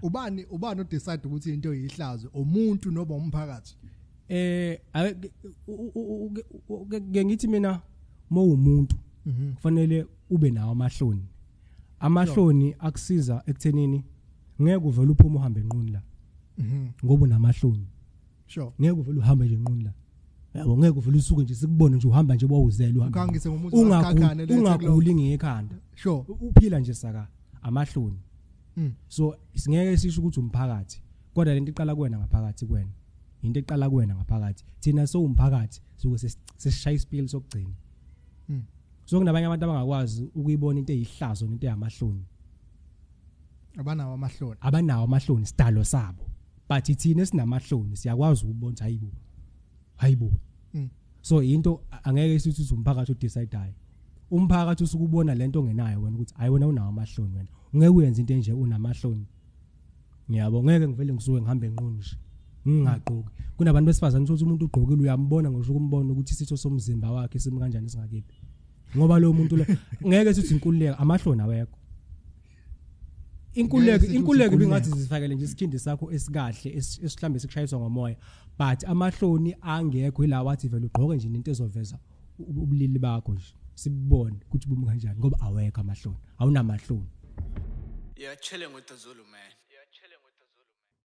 ubani ubani odecide ukuthi into yihlazo umuntu noba umphakathi eh ke ngithi mina mawumuntu mhm. kufanele ube nawo amahloni amahloni akusiza ekuthenini ngeke uvele uphume uhambe enquni la mhm. ngoba unamahloni sure ngeke uvele uhambe nje enquni la yabo ngeke uvele usuke nje sikubone nje uhamba nje bawuzelwe ungaguli ngekhanda sure uphila nje saka amahloni mm. so singeke sisho ukuthi umphakathi kodwa lento iqala kuwena ngaphakathi kuwena into eqala kuwena ngaphakathi thina sowumphakathi suke sesishaya isipili sokugcina mm. so kunabanye abantu abangakwazi ukuyibona into eyihlazo nento eyamahloni abanawo amahloni abanawo amahloni sidalo sabo but thina sinamahloni siyakwazi ukubona hayibo hayibo mm. so into angeke isithi ukuthi umphakathi udecideayo umphakathi usuke ubona lento ongenayo wena ukuthi hayi wena unawo amahloni wena ungeke uyenze into enje unamahloni ngiyabo ngeke ngivele ngisuke ngihambe nqunu nje ngingagqoki kunabantu besifazane ukuthi umuntu ugqokile uyambona ngisho ukumbona ukuthi isitho somzimba wakhe simi kanjani singakephi ngoba lo muntu lo ngeke sithi inkululeko amahloni awekho inkululeko inkululeko ibingathi zifakele nje isikhindi sakho esikahle esihlambe sikushayiswa ngomoya but amahloni angekho ila wathi vele ugqoke nje into ezoveza ubulili bakho nje sibone ukuthi bumi kanjani ngoba awekho amahloni awunamahloni yeah chilling with the zulu man